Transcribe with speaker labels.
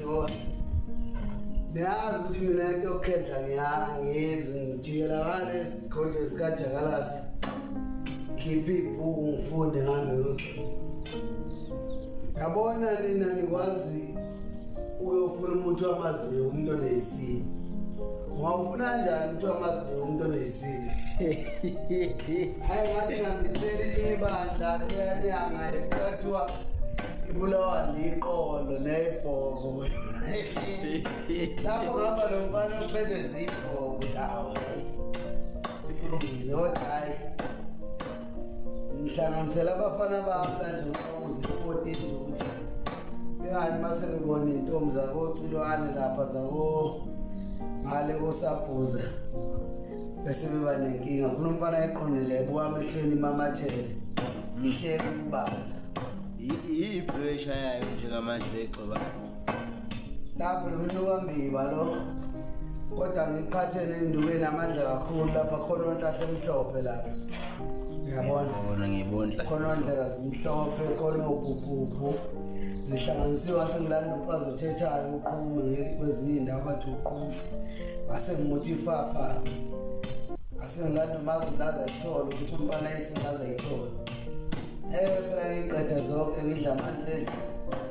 Speaker 1: Yebo. Niyazi ukuthi mina into yokukhendla ngiyangenzi ngijikela ngale isigodlo sikajakalasi. Khipha ibhuku ngifunde ngambe ukuthi. Yabona nina nikwazi uyofuna umuntu wamaziyo umuntu onesimo. Ungafuna kanjani ukuthi amazinyo umuntu onesile? Hayi ngathi ngambiseli ibandla liyanyanga ekuthiwa ibulawa liqolo nebhobo. Lapho ngaba lo mfana uphethwe zibhobo lawo. Yodwa hayi. ngihlanganisela abafana bami kanje ngokuzi 14 nje ukuthi bengathi mase ngibona intombi zako Cilwane lapha zako ngale kosabhuza bese beba nenkinga khona umfana eqonile ebuka amehlweni imamathele ngihleke ubaba iyipressure
Speaker 2: yayo njengamanje egcoba
Speaker 1: lapho lomnukambiba lo kodwa ngiqhathele induke namandla kakhulu lapha khona ontahle emhlophe lapha ngiyabona ngiyibona khona
Speaker 2: ondlela
Speaker 1: zimhlophe khona ubhubhubhu zihlanganisiwe asengilanda umfazi othethayo uqhume kwezinye indawo bathi uqhume asengimuthi ifafa asengilanda umazi ulaza ithole ukuthi umfana esingaza ithole ewe phela ngiqede zonke ngidla amandla edlozi